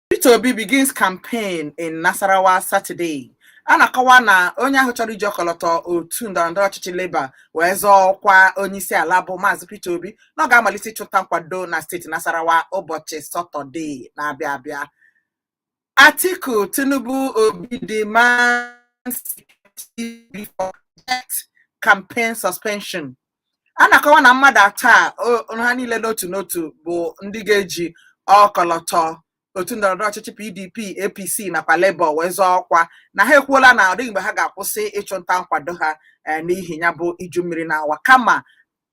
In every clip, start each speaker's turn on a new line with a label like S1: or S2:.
S1: Peter Obi begins campaign in Nasarawa Saturday. a na-akọwa na onye ahụ chọrọ iji ọkọlọtọ otu ndọrọndọrọ ọchịchị Labour wee zọọ ọkwa onyeisi ala bụ Maazị Peter Obi na ọ ga-amalite ịchụta nkwado na steeti Nasarawa ụbọchị Satọde na-abịa abịa. Atiku, Tinubu, Obi demand campaign suspension. A na-akọwa na mmadụ atọ a o- ha niile n'otu n'otu bụ ndị ga-eji ọkọlọtọ otu ndọrọndọrọ ọchịchị PDP, APC nakwa Labour wee zọọ ọkwa na ha ekwuola na ọ dịghị mgbe ha ga-akwụsị ịchụ nta nkwado ha eh, n'ihi ya bụ iju mmiri na-awa kama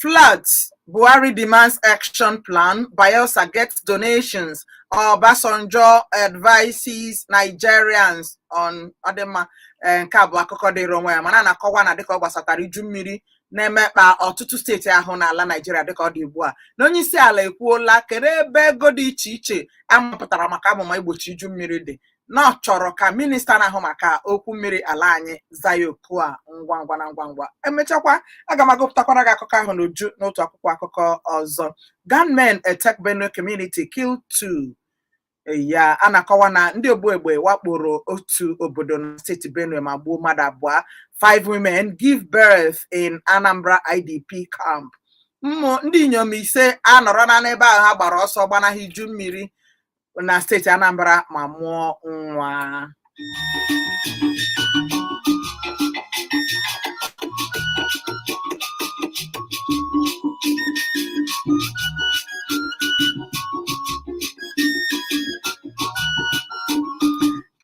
S1: floods, Buhari demands action plan, Bayelsa gets donations, Obasanjo advises Nigerians on ọ dị mma eh, nke a bụ akụkọ dịrị onwe ya mana a na-akọwa na dịka ọ gbasatara iju mmiri na-emekpa ọtụtụ steeti ahụ n'ala Naijiria dịka ọ dị ugbu a na onye isi ala ekwuola kedụ ebe ego dị iche iche a mapụtara maka amụma igbochi iju mmiri dị na ọ chọrọ ka minista na-ahụ maka okwu mmiri ala anyị zaa ya oku a ngwa ngwa na ngwa ngwa e mechakwa aga m agụpụtakwara gị akụkọ ahụ n'uju n'otu akwụkwọ akụkọ ọzọ gunmen attack Benue community kill two ya a na-akọwa na ndị ogbu egbe wakporo otu obodo na steeti Benue ma gbuo mmadụ abụọ five women give birth in Anambra IDP camp ụmụ ndị inyom ise anọrọla n'ebe ahụ ha gbara ọsọ gbanahụ iju mmiri na steeti Anambra ma mụọ nwa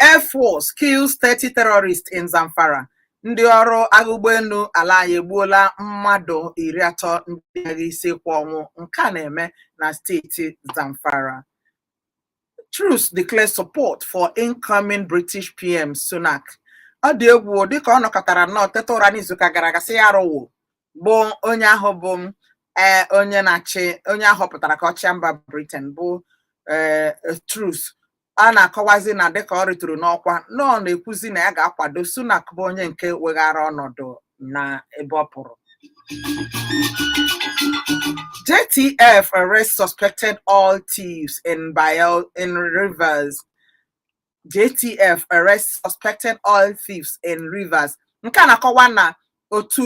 S1: Air Force kills 30 terrorists in Zamfara. Ndị ọrụ agha ụgbọelu ala anyị egbuola mmadụ iri atọ ndị agha isi ekwe ọnwụ nke a na-eme na steeti Zamfara. Truss declares support for incoming British PM Sunak. Ọ dị egwu dịka ọ nọkatara nnọọ teta ụra n'izuụka gara aga sị ya arụwo bụ onye ahụ bụ ee eh, onye na-achị onye a họpụtara ka ọ chịa mba Britain bụ ee eh, Truss a na-akọwazi na dịka ọ rịtụrụ n'ọkwa na ọ na-ekwuzi na ya ga-akwado Sunak bụ onye nke weghara ọnọdụ na ebe ọ pụrụ JTF arrests suspected oil thieves in Bayel in Rivers JTF arrest suspected oil thieves in Rivers nke a na-akọwa na otu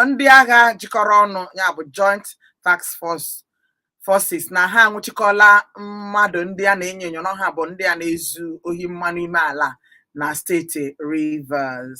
S1: ndị agha jikọrọ ọnụ ya bụ joint task forces na ha anwụchikọla mmadụ ndị a na-enyo enyo na ha bụ ndị a na-ezu ohi mmanụ ime ala na steeti Rivers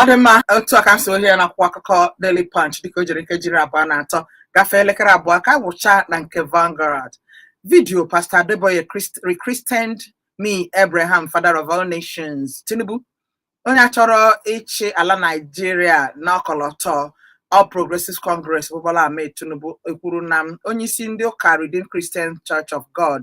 S1: ọ dị mma otu a ka m si hụ ya n'akwụkwọ akụkọ Daily Punch dịka o jiri nkejiri abụọ na atọ gafee elekere abụọ ka a gụcha na nke Vanguard vidiyo Pastor Adeboye rechristened me Abraham father of all nations Tinubu onye a chọrọ ịchị ala Naijiria n'ọkọlọtọ All Progressives Congress bụ Bola Ahmed Tinubu ekwuru na onyeisi ndị ụka Redeemed Christian Church of God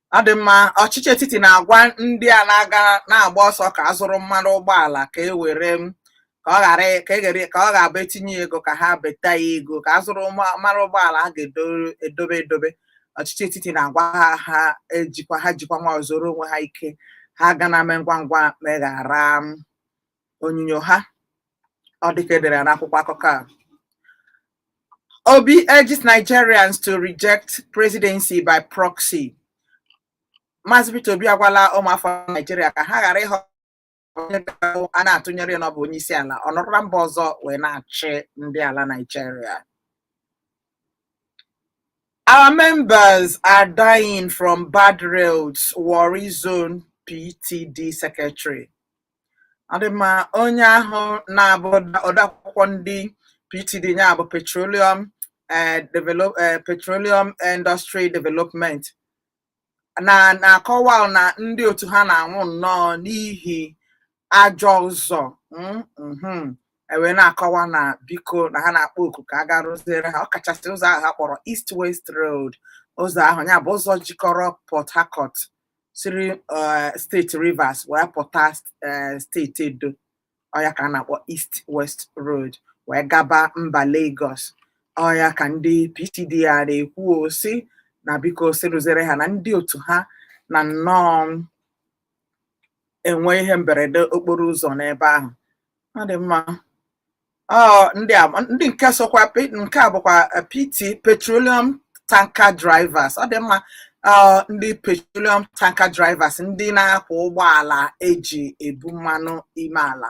S1: ọ dị mma ọchịchị etiti na-agwa ndị a na-aga na-agba ọsọ ka a zụrụ mmanụ ụgbọala ka e were m ka ọ ghara ka e ghere ka ọ ga-abụ e tinye ego ka ha beta ya ego ka a zụrụ mma- mmanụ ụgbọala ha ga-edobe edobe ọchịchị etiti na-agwa ha ha ejikwa ha jikwa nwayọ zuoro onwe ha ike ha ga na-eme ngwa ngwa meghara m onyinyo ha ọ dịka edere ya n'akwụkwọ akụkọ a Obi urges Nigerians to reject presidency by proxy. Maazị Peter Obi agwala ụmụafọ Naijiria ka ha ghara ịhọ onye ga-abụ a na-atụnyere ya na ọ bụ onye isi ala ọ nọrọ na mba ọzọ wee na-achị ndị ala Naijiria. Our members are dying from bad roads, Warri Zone PTD Secretary. ọ dị mma onye ahụ na-abụ odeakwụkwọ ndị PTD ya bụ petroleum eh, develop eh, petroleum industry development na na-akọwa na ndị otu ha na-anwụ nnọọ n'ihi ajọ ụzọ mm, mhm. e wee na-akọwa na biko na ha na-akpọ oku ka a gaa rụziere ha ọkachasị ụzọ ahụ ha kpọrọ East West Road ụzọ ahụ ya bụ ụzọ jikọrọ Port Harcourt siri eh, steeti Rivers wee pụta eh, steeti Edo ọ ya ka a na-akpọ East West Road wee gaba mba Lagos ọ ya ka ndị PTD a na-ekwu ọ sị na biko sị rụziere ha na ndị otu ha na nnọọ enwe ihe mberede okporo ụzọ n'ebe ahụ ọ dị mma Ọ ndị a ndị nke sokwa pe- nke a bụkwa eh, PT petroleum tanker drivers ọ dị mma ọ ndị petroleum tanker drivers ndị na-akwọ ụgbọala eji ebu mmanụ ime ala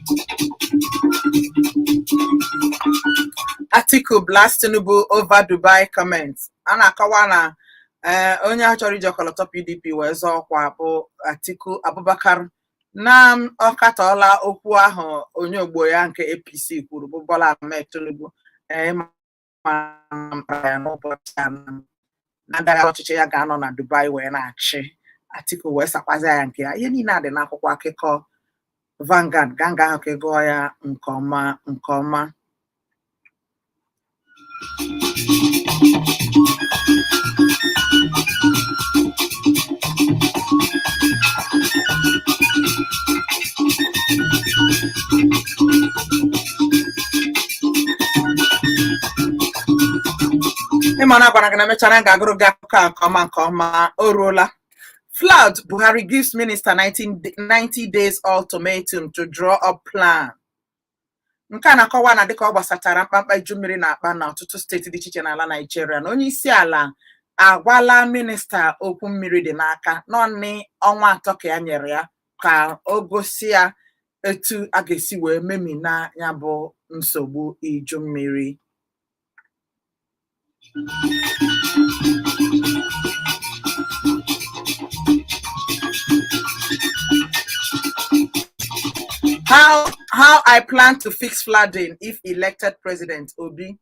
S1: Atiku blast Tinubu over Dubai comment. A na-akọwa na eh, onye a chọrọ iji ọkọlọtọ PDP wee zọọ ọkwa bụ Atiku Abubakar na ọ katọọla okwu ahụ onye ogbo ya nke APC kwuru bụ Bola Ahmed Tinubu eh, ma mpaghara ya n'ụbọchị a na ndagha ọchịchị ya ga-anọ na Dubai wee na-achị Atiku wee sakwazi ya nke ya ihe niile a dị n'akwụkwọ akụkọ Vanguard gaa nga ahụ ka ị gụọ ya nke ọma nke ọma ị ma na a gwara gị na mechara m ga-agụrụ gị akụkọ a nke ọma nke ọma o ruola flood buhari gives minister 90 days ultimatum to draw up plan nke a na-akọwa na dịka ọ gbasatara mkpamkpa iju mmiri na-akpa na ọtụtụ steeti dị iche iche n'ala naijiria na onye isi ala agwala minista okwu mmiri dị n'aka naanị ọnwa atọ ka ya nyere ya ka o gosi ya etu a ga-esi wee memina ya bụ nsogbu iju mmiri how i plan to fix flooding if elected president obi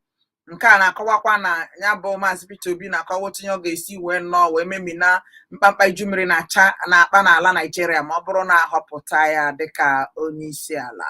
S1: nke a na-akọwakwa na ya bụ maazị Peter Obi na-akọwa otu ihe ọ ga-esi wee nnọọ wee memina mkpamkpa iju mmiri na-acha na-akpa n'ala Naijiria ma ọ bụrụ na a họpụta ya dịka onye isi ala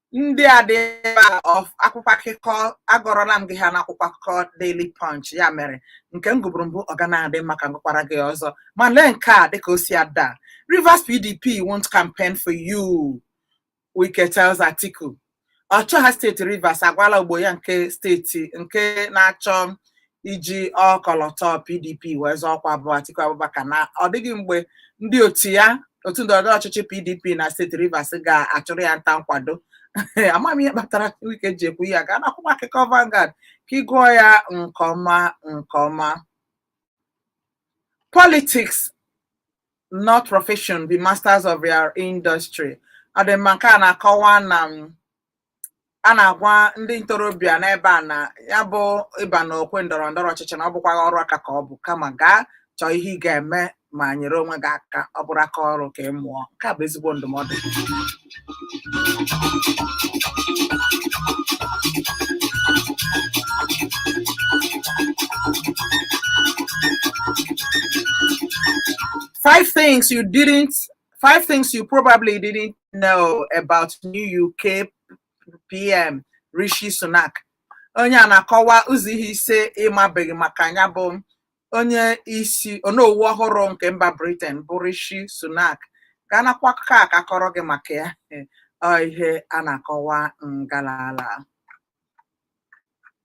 S1: ndị a dị ebe a of akwụkwọ akụkọ agụọrọla m gị ha n'akwụkwọ akụkọ Daily Punch ya mere nke m gụburu mbụ ọ ga na-adị mma ka m gụkwara gị ọzọ ma lee nke a dịka o si ada Rivers PDP won't campaign for you Wike tells Atiku ọchịọha steeti Rivers agwala ogbo ya nke steeti nke na-achọ iji ọkọlọtọ PDP wee zọọ ọkwa bụ Atiku Abubakar na ọ dịghị mgbe ndị otu ya otu ndọrọndọrọ ọchịchị PDP na steeti Rivers ga-achụrụ ya nta nkwado ama m ihe kpatara Wike ji ekwu ya gaa n'akwụkwọ akụkọ Vanguard ka ị gụọ ya nke ọma nke ọma politics not profession be masters of your industry ọ dị mma nke a na-akọwa na m a na-agwa ndị ntorobịa n'ebe a na ya bụ ịba n'okwe ndọrọ ndọrọ ọchịchị na ọ bụkwaghị ọrụ aka ka ọ bụ kama gaa chọọ ihe ị ga-eme ma nyere onwe gị aka ọ bụrụ aka ọrụ ka ị mụọ nke a bụ ezigbo ndụmọdụ five things you didn't five things you probably didn't know about new uk pm rishi sunak onye a na-akọwa ụzọ ihe ise ị mabeghị maka ya bụ onye isi onowu ọhụrụ nke mba britain bụ rishi sunak gaa n'akwụkwọ akụkọ a ka a kọọrọ gị maka ya ọ ihe a na-akọwa ngalala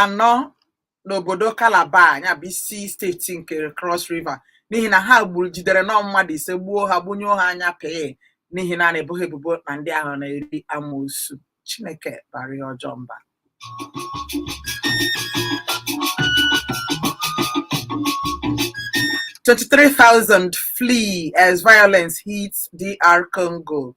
S1: anọ n'obodo Calabar ya bụ isi steeti nke Cross River n'ihi na ha gburu jidere nnọọ mmadụ ise gbuo ha gbunyụọ ha anya pii n'ihi na a na-ebo ha ebubo na ndị ahụ na-eri amoosu Chineke bara ihe ọjọọ mba Twenty-three thousand flee as violence hits DR Congo.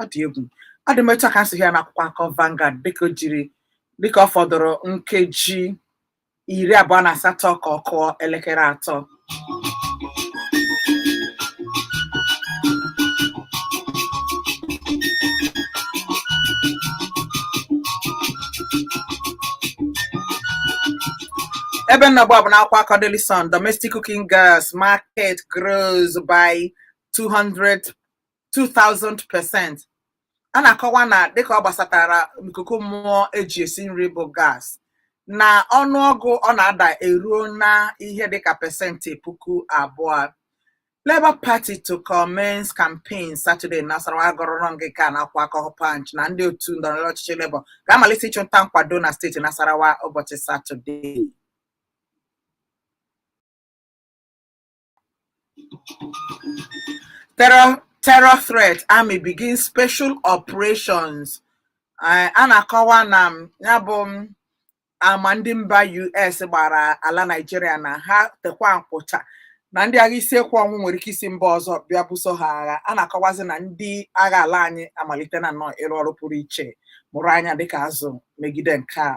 S1: ọ dị egwu adị m etu a ka m si hụ ya n'akwụkwọ akụkọ Vanguard dịka o jiri dịka ọ fọdụrụ nkeji iri abụọ na asatọ ka ọ kụọ elekere atọ ebe m nọ ugbu a bụ n'akwụkwọ akụkọ Daily Sun domestic cooking gas market grows by 200 2000% a na-akọwa na dịka ọ gbasatara ikuku mmụọ eji esi nri bụ gas na ọnụọgụ ọ na-ada eruona ihe dịka pesentị puku abụọ Labour Party to commence campaign Saturday in Nasarawa akọrọrọ m gị nke a n'akwụkwọ akụkọ Punch na ndị otu ndọrọndọrọ ọchịchị Labour ga-amalite ịchụ nta nkwado na steeti Nasarawa ụbọchị Satọdee. terror terror threat army begin special operations Eh, a na-akọwa na m, ya bụ m, ama ndị mba US gbara ala Naịjirịa na ha kekwa nkwụcha na ndị agha isi ekwe ọnwụ nwere ike isi mba ọzọ bịa buso ha agha a na-akọwazi na ndị agha ala anyị amalitena nnọọ ịrụ ọrụ pụrụ iche mụrụ anya dịka azụ megide nke a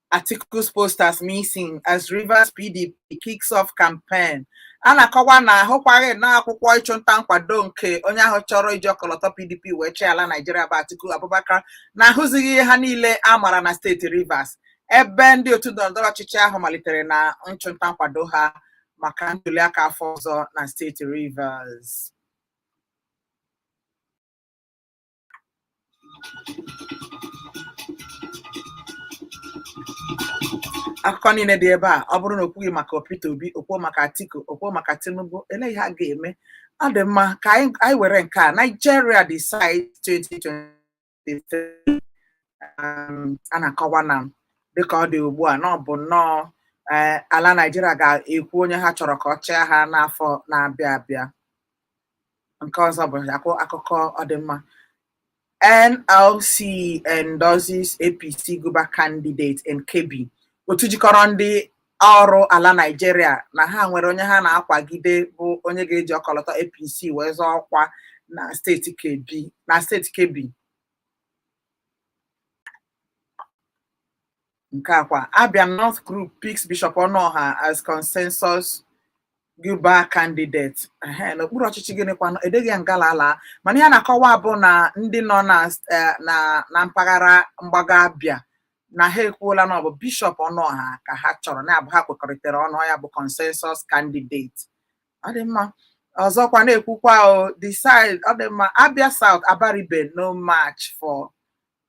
S1: Atiku's posters missing as Rivers PDP kicks off campaign. a na-akọwa na ahụkwaghị nnọọ akwụkwọ ịchụnta nkwado nke onye ahụ chọrọ iji ọkọlọtọ PDP wee chịa ala Naijiria bụ Atiku Abubakar na ahụzighị ha niile a mara na steeti Rivers ebe ndị otu ndọrọndọrọ ọchịchị ahụ malitere na nchụnta nkwado ha maka ntuliaka afọ ọzọ na steeti Rivers akụkọ niile dị ebe a ọ bụrụ na o kwughị maka Peter Obi o kwuo maka Atiku o kwuo maka Tinubu elee ihe a ga-eme ọ dị mma ka anyị were nke a Nigeria decide 2023 um, a na-akọwa na dịka ọ dị ugbu a na ọ bụ nnọọ eh, ala Nigeria ga-ekwu onye ha chọrọ ka ọ chịa ha n'afọ na-abịa abịa nke ọzọ bụ akụ akụkọ ọ dị mma NLC endorses APC Guber candidate in Kebbi otu jikọrọ ndị ọrụ ala Naịjirịa na ha nwere onye ha na-akwagide bụ onye ga-eji ọkọlọtọ APC wee zọọ ọkwa na steeti Kebbi nke akwa Abia North Group picks Bishop Ọnụọha as consensus Guber candidate ehe n'okpuru ọchịchị gịnịkwanụ edeghị ya ngala ala mana ihe a na-akọwa bụ na ndị nọ na eh, na na mpaghara mgbago Abia na ha ekwuola na ọ bụ Bishop Ọnụọha ka ha chọrọ na-abụ ha kwekọrịtara ọnụ ya bụ consensus candidate ọ dị mma ọzọkwa na-ekwukwa o decide ọ dị mma Abia South Abaribe no match for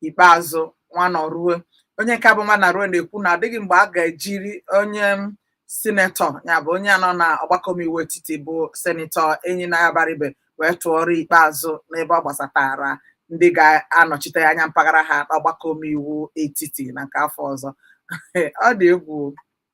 S1: Ikpeazụ Nwanọruo onye nke bụ Nwanọruo na-ekwu na ọ dịghị mgbe a ga-ejiri onye senetọ ya bụ onye nọ na ọgbakọ omeiwu etiti bụ senetọ Enyinnaya Abaribe wee tụọrọ Ikpeazụ n'ebe ọ gbasatara ndị ga-anọchite anya mpaghara ha n'ọgbakọ omeiwu etiti na nke afọ ọzọ ọ dị egwu o.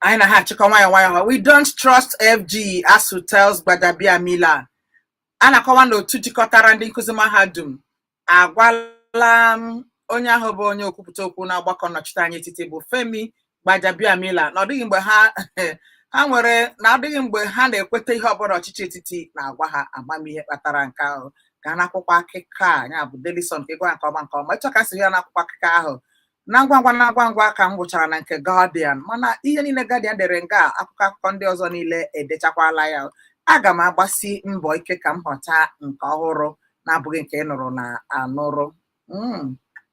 S1: anyị na ha achịkọ nwayọ nwayọ ha we don't trust FG ASUU tells Gbajabiamila a na-akọwa na otu jikọtara ndị nkụzi mahadum agwala onye ahụ bụ onye okwupụta okwu n'ọgbakọ nnọchite anya etiti bụ Femi Gbajabiamila na ọ dịghị mgbe ha ha nwere na ọ dịghị mgbe ha na-ekweta ihe ọbụla ọchịchị etiti na-agwa ha ịma ihe kpatara nke ahụ gaa n'akwụkwọ akụkọ a ya bụ Daily Sun ka ị gụa nke ọma nke ọma ịchọ ka si ya n'akwụkwọ akụkọ ahụ na ngwa ngwa na ngwa ngwa ka m gụchara na nke Guardian mana ihe niile Guardian dere nga a, akwụkwọ akụkọ ndị ọzọ niile edechakwala ya aga m agbasi mbọ ike ka m họta nke ọhụrụ na-abụghị nke ị nụrụ na anụrụ Mm.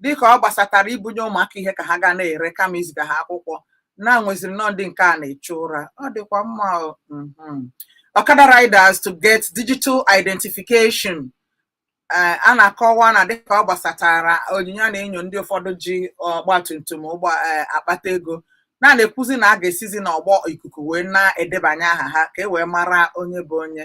S1: dịka ọ gbasatara ibunye ụmụaka ihe ka ha ga na-ere kama iziga ha akwụkwọ na e nweziri nnọọ ndị nke a na-echu ụra ọ dịkwa mma o. Mhm. Okada riders to get digital identification Eh, a na-akọwa na dịka ọ gbasatara onyinyo a na-enyo ndị ụfọdụ ji ọgba tum tum ụgbọ eh, akpata ego na a na-ekwuzi na a ga-esizi n'ọgbọ ikuku wee na-edebanye aha ha ka e wee mara onye bụ onye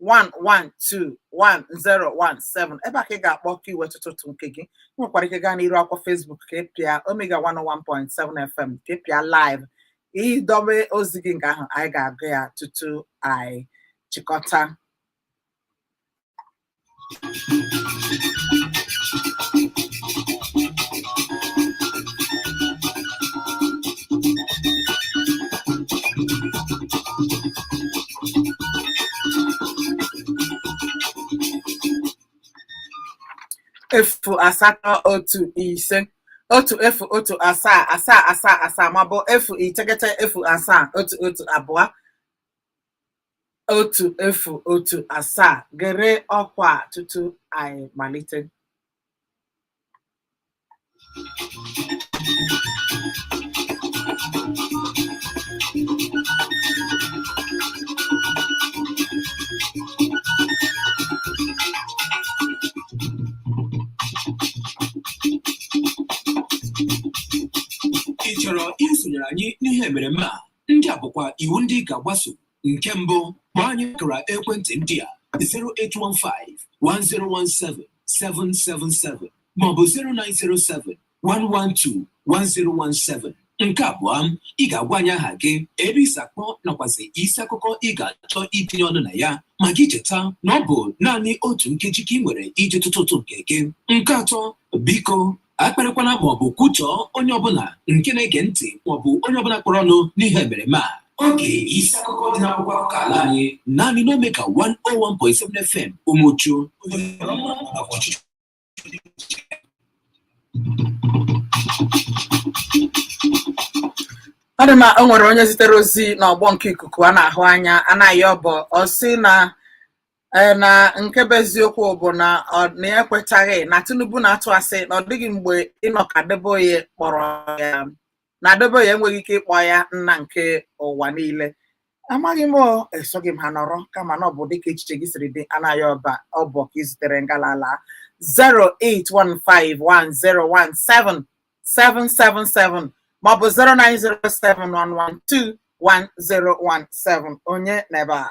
S1: 1121017 ebe a ka ị ga-akpọ ka i wee tụtụ ụtụ nke gị ị nwekwara ike gaa n'iru akwụkwọ Facebook ka ị pịa Omega 101.7 FM ka ị pịa live ị dobe ozi gị nga ahụ anyị ga-agụ ya tutu anyị chịkọta efu asatọ otu ise otu efu otu asaa asaa asaa asaa maọbụ efu iteghete efu asaa otu otu abụọ otu efu otu asaa gere ọkwa a tutu anyị malite
S2: ị chọrọ isonyere anyị n'ihe emereme a Ndị a bụkwa iwu ndị ị ga-agbaso. Nke mbụ, kpọọ anyị akara ekwentị ndị a 0815 1017 777 maọbụ 0907 112 1017. Nke abụọ, ị ga-agwa anyị aha gị, ebe i si akpọ nakwazi isi akụkọ ị ga-achọ itinye ọnụ na ya ma gị cheta na ọ bụ naanị otu nkeji ka ị nwere iji tụtụ ụtụ nke gị. Nke atọ, biko akparịkwala ma ọ bụ kwutọọ onye ọbụla nke na-ege ntị ma ọ bụ onye ọbụla kpọrọ ọnụ n'ihe emereme a oge isi akụkọ dị n'akwụkwọ akụkọ ala anyị naanị n'Omega 101.7 FM Umuchu
S1: ọ dị mma o nwere onye zitere ozi n'ọgbọ nke ikuku a na-ahụ anya Anayọ Ọba ọ sị na ee na nke bụ eziokwu bụ na ọ na ya ekwetaghị na Tinubu na-atụ asị na ọ dịghị mgbe Enoch Adeboye kpọrọ ya na Adeboye enweghị ike ịkpọ ya nna nke ụwa niile amaghị m o, esoghị m ha nọrọ kama na ọ bụ dịka echiche gị siri dị Anayọ Ọba ọ bụ ka i zitere ngalala 08151017777 maọbụ 09071121017 onye n'ebe a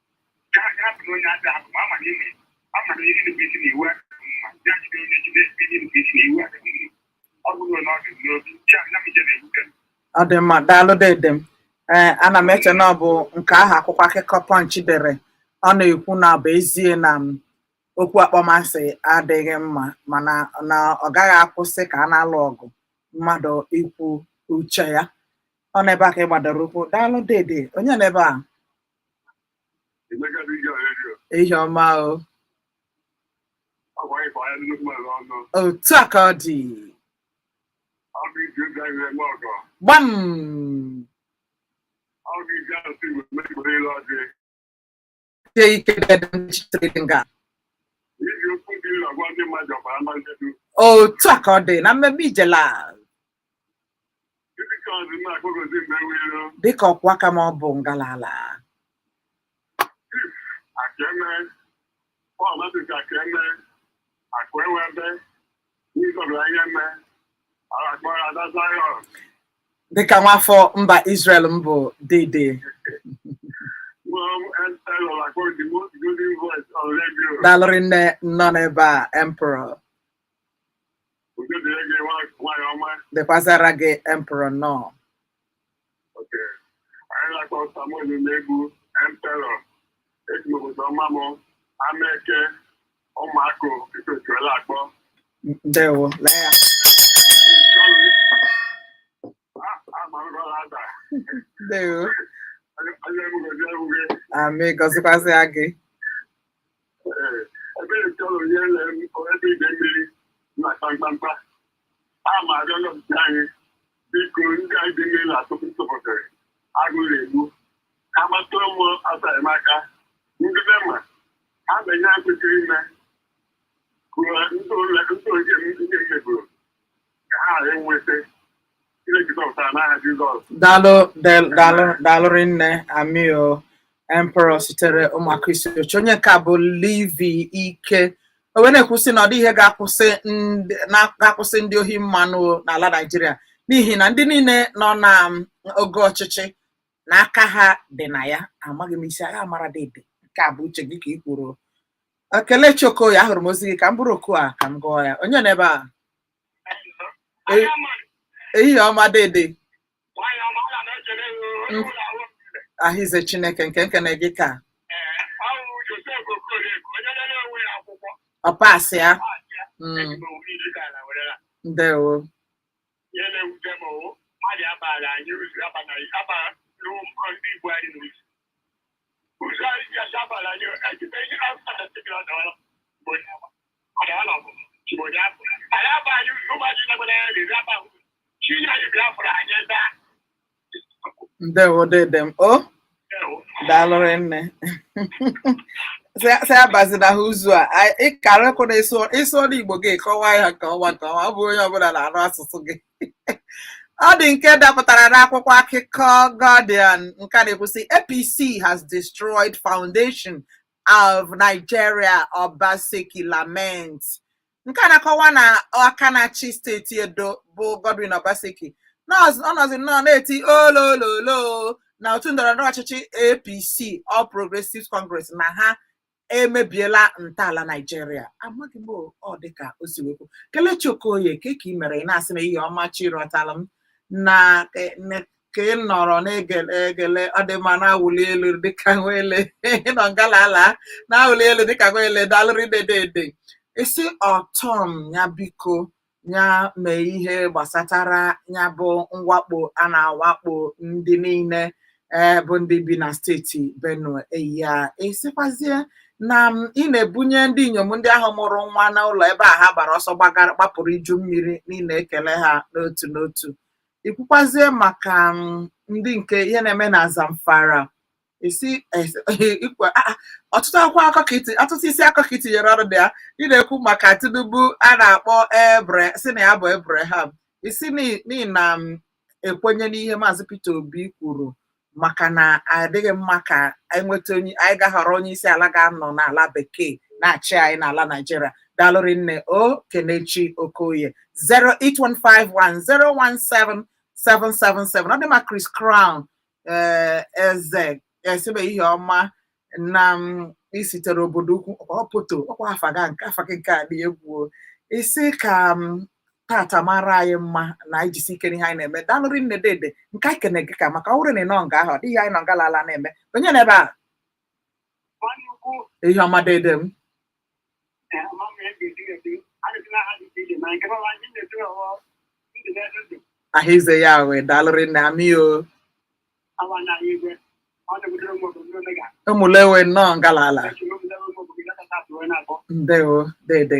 S1: ọ dị mma daalụ dede m ee eh, ana m eche na ọ bụ nke ahụ akwụkwọ akụkọ Punch dere ọ na-ekwu na bụ ezie na m okwu akpọmasị adịghị mma mana na ọ gaghị akwụsị ka a na-alụ ọgụ mmadụ ikwu uche ya ọ n'ebe a ka ị gbadoro ụkwụ daalụ dede onye n'ebe a ehihie ọma o otu a ka ọ dị gbam sie ike dede nchitere dị nga otu a ka ọ dị na mmemme ijela dịka ọkwa ka ma ọ bụ ngalala dịka nwafọ mba Israel m bụ dede daalụ rinne nọ n'ebe a emperor dịkwazịara gị emperor nọ ndewo lee ya ndewo amị gọzikwazịa gị ebe chọrọ onye lere ebe ide mmiri
S3: na-akpa mkpamkpa a ma arịọ nọpụta anyị biko ndị anyị dị mmiri na-atụpụ ntụpụtịrị agụụ na-egbu ha gbatụrụ m ọsọ enyemaka ndị NEMA ha na ihe ha kwesịrị ime kụrụ ndị ole ndị oge m ndị m meburu
S1: ka ha ghara inweta Chineke zọpụta ha n'aha Jizọs. Daalụ del- daalụ daalụ rinne ami o emperor sitere Ụmụakụ Isuochi onye nke a bụ Levi Ike o wee na-ekwusi na ọ dịghị ihe ga-akwụsị ndị- na- ga-akwụsị ndị ohi mmanụ n'ala Naịjirịa n'ihi na ndị niile nọ na um, ogo ọchịchị na aka ha dị na ya amaghị m isi a ga-amara dede nke a bụ uche gị ka ị kwuru Kelechi Okoye ahụrụ m ozi gị ka m buru oku a ka m gụọ ya. Onye n'ebe a? Ee. Ehihie ọma dede. Ahịze Chineke nke nkene gị ka ọ pasị ya. Mm, Ndewo. ndewo dede m o daalụ rinne si abazina ha ụzọ a anyị- ị karịkwụna ịsụ ịsụ olu Igbo gị kọwaa ya nke ọma nke ọma ọ bụ onye ọbụla na-anụ asụsụ gị ọ dị nke dapụtara n'akwụkwọ akụkọ Guardian nke na-ekwu sị APC has destroyed foundation of Nigeria Obaseki lament nke na-akọwa na aka na-achị steeti Edo bụ Godwin Obaseki ọnọzi nnọọ na-eti olololo na otu ndọrọndọrọ ọchịchị APC All Progressives Congress na ha emebiela ntọala naijiria amaghị m ọ dịka o si wee kwuo kelechi okoye kee ka ị mere ị na-asị na ihe ọma chi rọtara m na ka ị nọrọ na-egele egele ọ dị mma na-awụli elu dịka nwele nọ ngalala na-awụli elu dịka nwele daalụrị dedede ị sị ortom ya biko ya mee ihe gbasatara ya bụ mwakpo a na-awakpo ndị niile ee bụ ndị bi na steeti Benue ya esikwazie na m ị na-ebunye ndị inyom ndị ahụ mụrụ nwa n'ụlọ ebe a ha gbara ọsọ gbagara gbapụrụ iju mmiri niile ekele ha n'otu n'otu i kwukwazie maka ndị nke ihe na-eme na Zamfara isi ikwe ọtụtụ akwụkwọ akụkọ i ti ọtụtụ isi akụkọ i tinyere ọnụ na ya ị na-ekwu maka tinubu a na-akpọ abra sị na ya bụ abraham ị sị n'ihi na m ekwenye n'ihe maazị peter obi kwuru maka na adịghị mma ka anyị nweta onye anyị ga-ahọrọ onye isi ala ga-anọ n'ala bekee na-achị anyị n'ala naijiria daalụrị nne o kelechi okoye 08151017777 ọ dị ma chris crown ee eze esibe ihe ọma na m i sitere obodo ukwu ọ poto ọkwa afa ga nke afa gị nke a dị egwu o. ị sị ka tata mara anyị mma na anyị jisie ike n'ihe anyị na-eme daalụrị nne dede nke anyị kene gị ka maka ọ bụrụ na ị nọ nga ahụ ọ dịghị anyị nọ nga lala na-eme onye nọ ebe a iheoma dede m aha ize ya wee daalụrị nna anyị o ụmụlewe nọ ngalala ndewo dede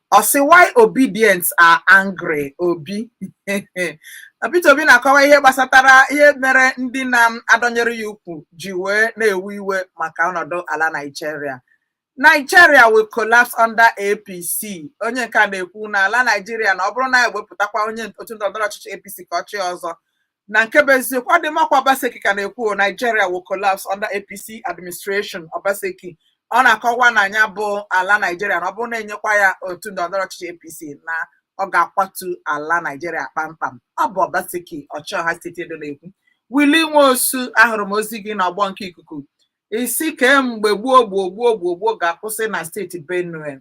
S1: ọ sị why Obidients are angry Obi Peter Obi na-akọwa ihe gbasatara ihe mere ndị na-adọnyere ya ukwu ji wee na-ewe iwe maka ọnọdụ ala Nigeria Nigeria will collapse under APC onye nke a na-ekwu na ala Nigeria na ọ bụrụ na e wepụtakwa onye otu ndọrọndọrọ ọchịchị APC ka ọ chịa ọzọ na nke bụ eziokwu ọ dị makwa Obaseki ka na-ekwu Nigeria will collapse under APC administration Obaseki ọ na-akọwa na ya bụ ala Nigeria na ọ bụrụ na e nyekwa ya otu ndọrọndọrọ ọchịchị APC na ọ ga-akwatu ala Nigeria kpamkpam ọ bụ Obaseki ọchịọha steeti Edo na-ekwu Willie Nwosu ahụrụ m ozi gị n'ọgbọ nke ikuku ị sị kee mgbe gbuo gbuo gbuo gbuo gbuo ga-akwụsị na steeti Benue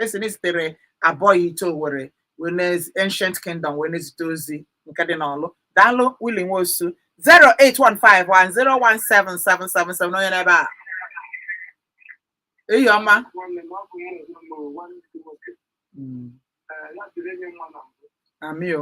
S1: esi na esitere abụọ ite owere wee na ancient kingdom wee na-ezite ozi nke dị n'ọlụ daalụ wili nwosu 08151017777 onye n'ebe a eyi ọma nwanne m ọ bụ mụ onwe m o, nwanne m nwoke Mm, Ee, ya dịrị enye nwa na mbụ amị o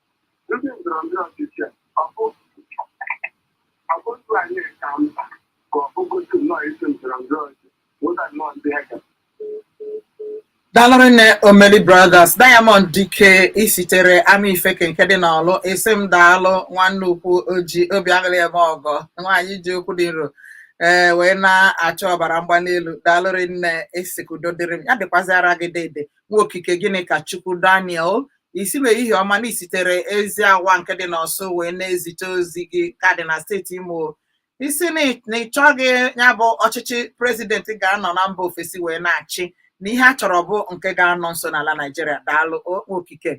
S1: Ndị ndọrọndọrọ ọchịchị a, ọ bụ ọ bụ otu anyị ka mkpa ka ọ bụgotu nnọọ isi ndọrọndọrọ ọchịchị wụda nnọọ ndị ha ga dalụrụ nne omeli brothers diamond dike isitere ama ifeke nke dị n'ọlụ isi m daalụ nwanne ukwu oji obi aṅụrị eme ọgọ nwaanyị ji okwu dị nro ee wee na-achọ ọbara mgbali elu daalụrụ nne esi ka udo dịrị m ya dịkwazịara gị dede nwa okike gịnị ka chukwu daniel Ị sị m ehihie ọma na i sitere Eziawa nke dị n'Ọsụ wee na-ezite ozi gị ka dị na steeti Imo. Ị sị na ị- na ị chọghị ya bụ ọchịchị prezident ga-anọ na mba ofesi wee na-achị na ihe a chọrọ bụ nke ga-anọ nso n'ala Naijiria daalụ o- okike.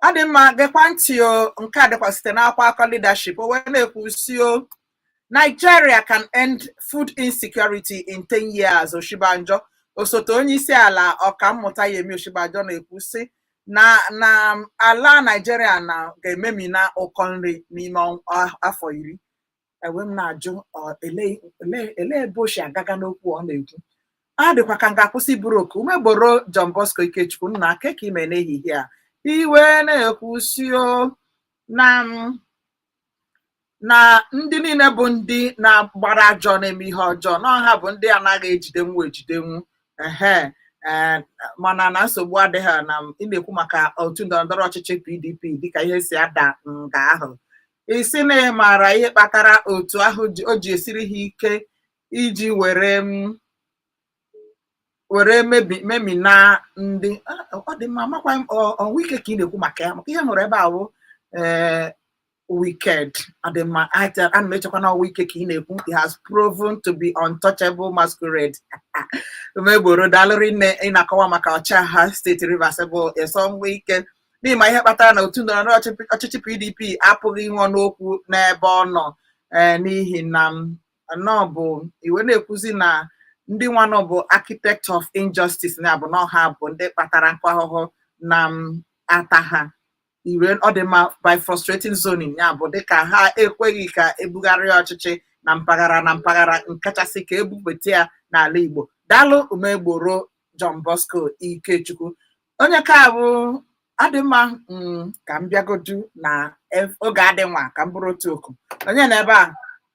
S1: Ọ dị mma gekwa ntị o nke a dịkwa site n'akwụkwọ akụkọ Leadership o wee na-ekwu sị o Nigeria can end food insecurity in 10 years, Osinbajo. Osote onyeisiala Ọkammụta Yemi Osinbajo na-ekwu sị na na ala Nigeria na ga-ememina ụkọ nri n'ime ọnw- a- afọ iri. E wee m na-ajụ ọ, ele ele- ele ebe o si agaga n'okwu ọ na-ekwu. Ọ dịkwa ka m ga-akwụsị buru oku Umegboro John Bosco Ikechukwu nna kee ka i me n'ehihie a. I wee na-ekwu sị o na m na ndị niile bụ ndị na-agbara ajọ na-eme ihe ọjọọ na ọ ha bụ ndị anaghị ejidenwu ejidenwu ehe ee mana na nsogbu adịghị na ị na-ekwu maka otu ndọrọndọrọ ọchịchị PDP dịka ihe si ada nga ahụ ị sị na ị maara ihe kpatara otu ahụ ji- o ji esiri ha ike iji were m were memina ndị ọ dị mma makwa ọ Wike ka ị na-ekwu maka ya maka ihe hụrụ ebe ahụ ee wicked ọ dị mma ana m echekwa na ọ Wike ka ị na-ekwu he has proven to be untouchable masquerade Umegboro daalụ rinne ị na-akọwa maka ọchịagha steeti Rivers bụ Nyesom Wike na ị ma ihe kpatara na otu ndọrọ ndọrọ ọchịchị PDP apụghị inwe ọnụ okwu n'ebe ọ nọ n'ihi na na ọ bụ i wee na-ekwuzi na ndị nwanụ bụ architect of injustice ya bụ na ọ ha bụ ndị kpatara oke ahụhụ na-ata ha ire ọ dị mma by frustrating zoning ya bụ dịka ha ekweghị ka ebugharịa ọchịchị na mpaghara na mpaghara nkachasị ka ebupụta ya n'ala Igbo daalụ Umegboro John Bosco Ikechukwu onye ka ọ bụ ọ dị mma mm, ka m bịagodu na ef- oge adị nwa ka m buru otu oku onye na ebe a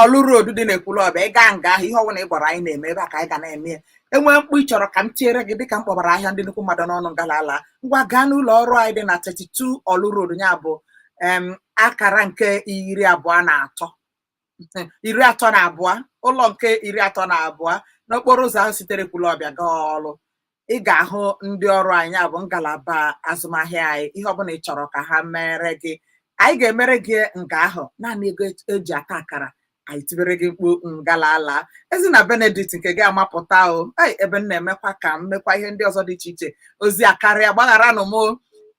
S1: ọlụ road dị n'Ekwulọbịa ị gaa nga ahụ ihe ọbụla ị gwara anyị na-eme ebe a ka anyị ga na-eme ya enwee mkpu ị chọrọ ka m tiere gị dịka m kpọbara ahịa ndị nnukwu mmadụ n'ọnụ ngala ala ngwa gaa n'ụlọ ọrụ anyị dị na 32 ọlụ road ya bụ em akara nke iri abụọ na atọ iri atọ na abụọ ụlọ nke iri atọ na abụọ n'okporo ụzọ ahụ sitere Ekwulọbịa gaa ọlụ ị ga-ahụ ndị ọrụ anyị ya bụ ngalaba azụmahịa anyị ihe ọbụla ị chọrọ ka ha mere gị anyị ga-emere gị nga ahụ naanị ego e- eji ata akara anyị tibere gị mkpu ngala ala Ezinna Benedict nke gị amapụta o ei ebe m na-emekwa ka m mekwa ihe ndị ọzọ dị iche iche ozi akarịa gbagharanụ m o.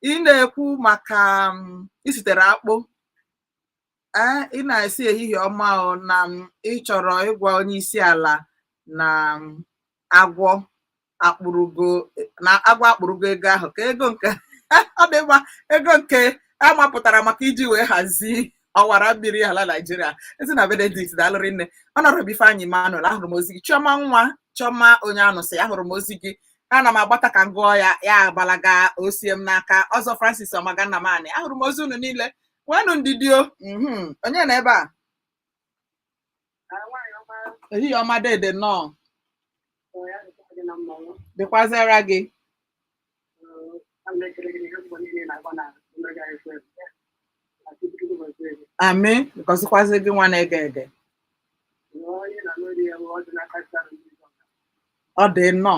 S1: ị na-ekwu maka mm, i sitere Akpụ ee ị na-esi ehihie ọma o na m ị chọrọ ịgwa onye isi ala na m agwọ akpụrụgo na agwọ akpụrụgo ego ahụ ka ego nke ọ dị mma ego nke a mapụtara maka iji wee hazie ọwara mmiri ala Naịjirịa Ezinna Benedict daalụ rinne Honorable Ifeanyị Emmanuel ahụrụ m ozi gị Chiọma nwa Chiọma Onyeanụsị ahụrụ m ozi gị ana m agbata ka m gụọ ya ya agbalaga osie m n'aka ọzọ Francis Ọmaga Nnamani ahụrụ m ozi unu niile nwenụ ndidi o mhm. onye na ebe a ehihie ọma dede nnọọ dịkwazịara gị amị gọzikwazi gị nwa na-ege ege ọ dị nnọọ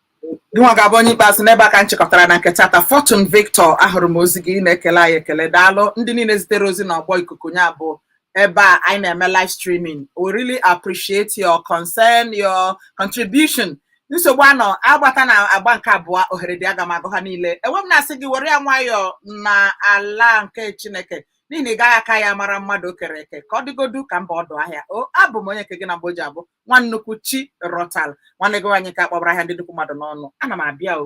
S1: Gịnwa ga-abụ onye ikpeazụ n'ebe a ka m chịkọtara na nke taata Fortune Victor ahụrụ m ozi gị ị na-ekele anyị ekele daalụ ndị niile zitere ozi na ọgbọ ikuku ya bụ ebe a anyị na-eme live streaming we really appreciate your concern your contribution nsogbu anọ agbata na agba nke abụọ ohere dị aga m agụ ha niile ewee m na-asị gị were ya nwayọọ na ala nke Chineke n'ihi na ị gaghị aka ya mara mmadụ o kere eke ka ọ dịgodu ka m baa ọdụ ahịa o abụ m onye nke gị na mgbe o ji abụ nwa nnukwu chi rọtal nwanne gị nwaanyị ka akpọbara ahịa ndị nnukwu mmadụ n'ọnụ ana m abịa o